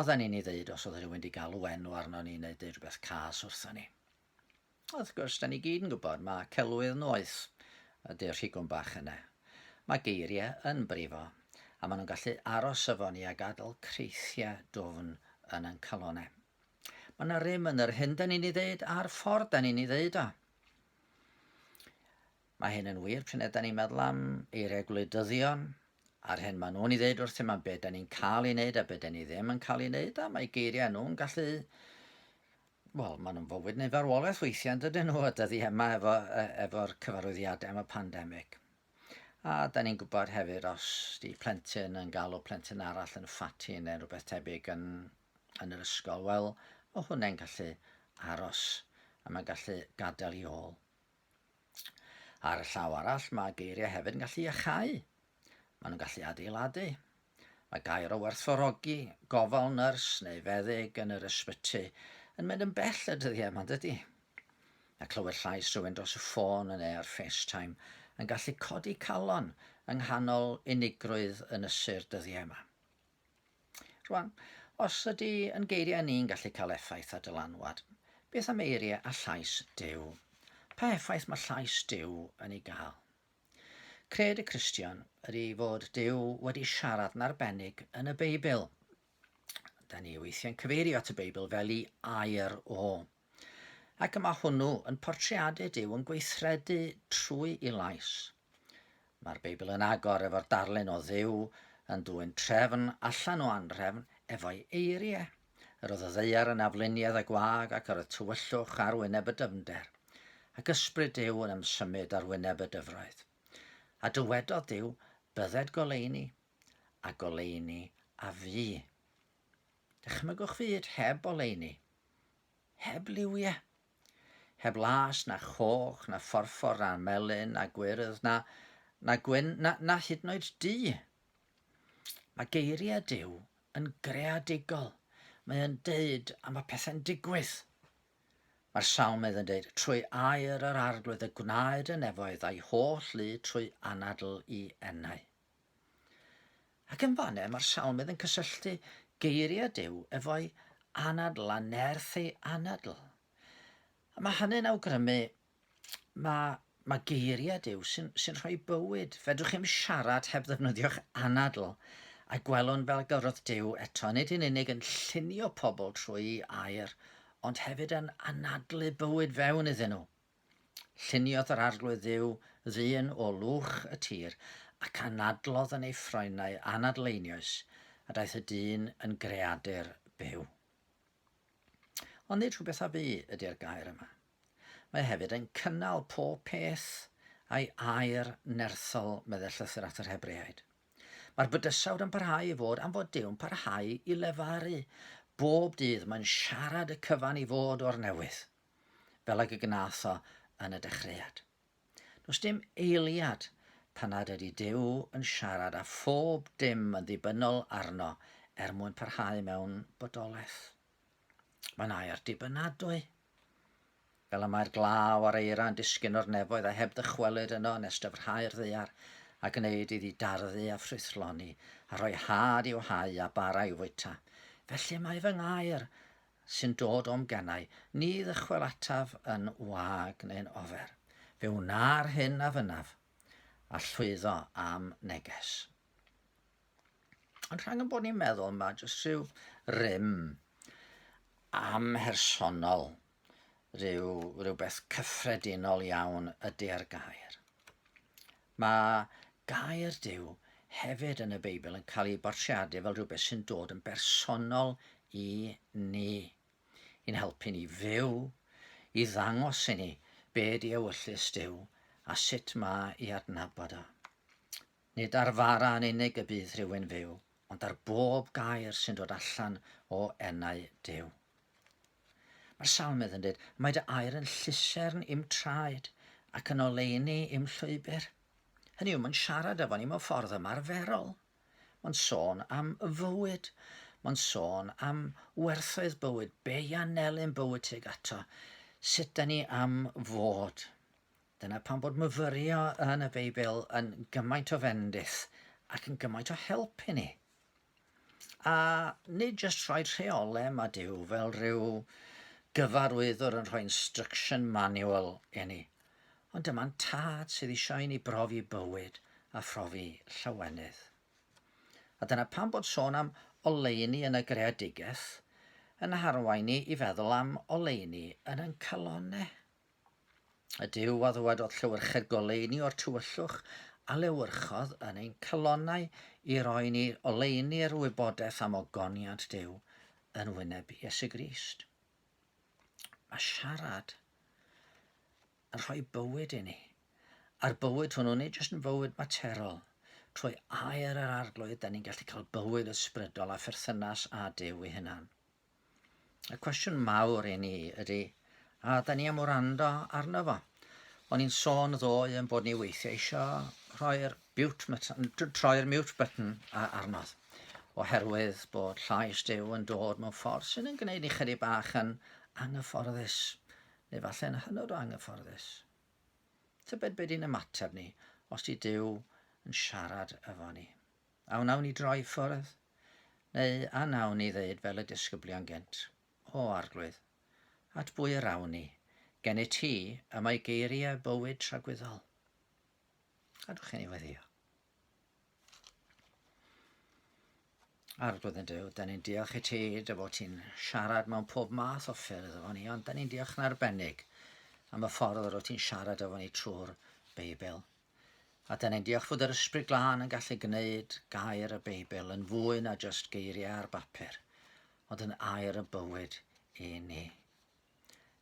Oedden ni'n ei ddeud os oedd rhywun wedi galw enw arno ni neu deud rhywbeth cas wrthon ni. Wrth gwrs, da ni gyd yn gwybod, mae celwydd noeth ydy'r rhigwm bach yna. Mae geiriau yn brifo, a maen nhw'n gallu aros efo ni a gadael creithiau dwfn yn ein calonau. Mae yna rym yn yr hyn da ni'n ei ddeud a'r ffordd da ni'n ei ddeud o. Mae hyn yn wir pryn yda ni'n meddwl am eiriau gwleidyddion a'r hyn maen nhw'n ei ddeud wrthym am be da ni'n cael ei wneud a be da ni ddim yn cael ei wneud a mae geiriau nhw'n gallu wel, maen nhw'n fywyd neu farwolaeth weithiau yn dydyn nhw, a dydy yma efo, e, efo'r cyfarwyddiadau am y pandemig. A da ni'n gwybod hefyd os di plentyn yn galw plentyn arall yn ffati neu rhywbeth tebyg yn, yn yr ysgol, wel, mae hwnna'n gallu aros a mae'n gallu gadael i ôl Ar y llaw arall, mae geiriau hefyd yn gallu iachau. Maen nhw'n gallu adeiladu. Mae gair o werthfawrogi, gofal nyrs neu feddyg yn yr ysbyty yn mynd yn bell y dyddiau yma, dydy? Mae clywed llais rhywun dros y ffôn yn neu ar FaceTime yn gallu codi calon yng nghanol unigrwydd ynysu'r dyddiau yma. Rwan, os ydy yn geiriau ni'n gallu cael effaith ar dylanwad, beth am eiriau a llais Duw? Pa effaith mae llais Duw yn ei gael? Cred y Cristion ydy fod Duw wedi siarad yn arbennig yn y Beibl. Da ni weithiau'n cyfeirio at y Beibl fel i air o. Ac y mae hwnnw yn portreadu Duw yn gweithredu trwy i lais. Mae'r Beibl yn agor efo'r darlun o Dduw yn dwyn trefn allan o anrefn efo'i eiriau. Yr oedd y ddeiar yn afluniad y gwag ac yr oedd tywyllwch ar wyneb y dyfnder, ac ysbryd Duw yn ymsymud ar wyneb y dyfroedd. A dywedodd Duw, bydded goleuni, a goleuni a fu. Dychmygwch fyd heb oleuni, heb liwiau, heb las na choch na phorffor na melyn na gwyrdd na, na gwyn na, na hyd yn oed du. Mae geiriau Duw yn greadigol. Mae e'n deud a mae pethau'n digwydd. Mae'r salmydd yn deud, trwy air yr arglwydd y gwnaed y nefoedd a'i holl lu trwy anadl i enau. Ac yn fan'ne mae'r salmydd yn cysylltu geiriau Duw efo'i anadl a nerth ei anadl. A mae hynny'n awgrymu mae, mae geiriau Duw sy'n, sy'n rhoi bywyd. Fedrwch chi'm siarad heb ddefnyddio'ch anadl. A gwelwn fel gyrodd Duw eto, nid yn unig yn llunio pobl trwy air, ond hefyd yn anadlu bywyd fewn iddyn nhw. Lluniodd yr Arglwydd Dduw ddyn o lwch y tir, ac anadlodd yn ei ffroenau anadleinius, a daeth y dyn yn greadur byw. Ond nid rhywbeth a fu ydy'r gair yma. Mae hefyd yn cynnal pob peth a'i air nerthol, meddai llythyr at yr Hebreaid. Mae'r bydysawd yn parhau i fod am fod Dyw'n parhau i lefaru. Bob dydd mae'n siarad y cyfan i fod o'r newydd. fel ag y gnath o yn y dechreuad. Does dim eiliad pan nad ydy Duw yn siarad a phob dim yn ddibynnol arno er mwyn parhau mewn bodolaeth. Mae'n air dibynadwy. Fel y mae'r glaw a'r eira'n disgyn o'r nefoedd a heb ddychwelyd yno yn estyfrhau'r ddeiar a gwneud iddi darfu a ffrwythloni a rhoi had i'w hau a bara i'w fwyta. Felly mae fy ngair sy'n dod o'm gennau, ni ddychwelataf yn wag neu'n ofer. Fe wna'r hyn a fynnaf, a llwyddo a'm neges. Ond rhang yn bod ni'n meddwl, mae jyst rhyw rym amhersonol, rhyw, rhywbeth cyffredinol iawn ydy ar gair. Mae gair Duw hefyd yn y Beibl yn cael ei bortreadu fel rhywbeth sy'n dod yn bersonol i ni, i'n helpu ni fyw, i ddangos i ni be di ewyllys Duw a sut mae i adnabod o. Nid ar fara yn unig y bydd rhywun fyw, ond ar bob gair sy'n dod allan o enau Duw. Mae'r salmydd yn dweud, Mae dy air yn llusern i'm traed ac yn oleuni i'm llwybr. Hynny yw, mae'n siarad efo ni mewn ffordd ymarferol. Mae'n sôn am y fywyd. Mae'n sôn am werthoedd bywyd, be i anelyn bywyd tuag ato, sut da ni am fod. Dyna pam bod myfyrio yn y Beibl yn gymaint o fendith ac yn gymaint o help i ni. A nid jyst rhoi rheolau yma Duw fel rhyw gyfarwyddwr yn rhoi instruction manual i ni, ond dyma'n tad sydd eisiau i ni brofi bywyd a phrofi llawenydd. A dyna pam bod sôn am oleuni yn y greadigaeth yn harwain ni i feddwl am oleuni yn ein calonnau. Y Duw a ddywedodd llywyrched goleuni o'r tywyllwch a lewyrchodd yn ein calonnau i roi ni oleuni'r wybodaeth am ogoniant Duw yn wyneb Iesu Grist. Mae siarad yn rhoi bywyd i ni. A'r bywyd hwnnw, nid jyst yn fywyd materol, trwy air yr arglwydd, da ni'n gallu cael bywyd ysbrydol a pherthynas â Duw ei hunan. Y cwestiwn mawr i ni ydy, a da ni am wrando arno fo? O'n i'n sôn ddoe yn bod ni weithiau eisiau rhoi'r troi'r mute button arnodd oherwydd bod llais Dyw yn dod mewn ffordd sydd yn gwneud ni chydig bach yn anghyfforddus, neu falle yn hynod o anghyfforddus. Tybed beth i'n ymateb ni os di Dyw yn siarad efo ni. A wnawn ni droi i ffwrdd? Neu a wnawn ni ddeud fel y disgyblion gynt, O Arglwydd, at bwy yr awn ni? Gennyt ti y mae geiriau bywyd tragwyddol. Gadwch i ni weddio. Arglwydd yn Dyw, da ni'n diolch i ti dy fod ti'n siarad mewn pob math o ffyrdd efo ni, ond da ni'n diolch yn arbennig am y ffordd yr wyt ti'n siarad efo ni trwy'r Beibl. A dan ni'n diolch fod yr Ysbryd Glân yn gallu gwneud gair y Beibl yn fwy na just geiriau ar bapur, ond yn air y bywyd i ni.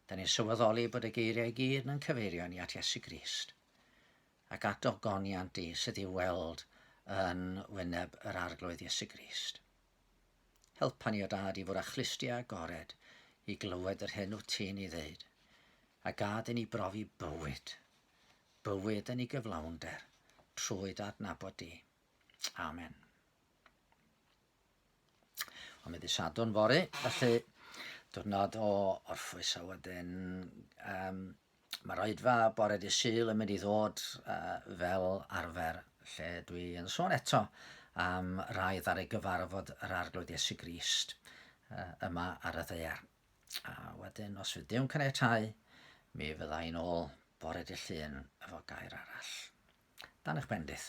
Dan ni'n sylweddoli bod y geiriau i gyd yn cyfeirio ni at Iesu Grist ac at ogoniant i sydd i'w weld yn wyneb yr arglwydd Iesu Grist. Helpa ni o dad i fod â chlustiau agored i glywed yr hyn wyt ti'n ei ddeud, a gad i ni brofi bywyd bywyd yn ei gyflawnder trwy dy adnabod di. Amen. Ond mae di sadwn fori, felly diwrnod o orffwys a wedyn um, mae roedfa bore di syl yn mynd i ddod uh, fel arfer lle dwi yn sôn eto am rai ar ei gyfarfod yr arglwydd Iesu Grist uh, yma ar y ddeir. A wedyn, os fydd Dew'n caniatau, mi fydda i'n ôl bore dy llun efo gair arall. Dan eich bendith.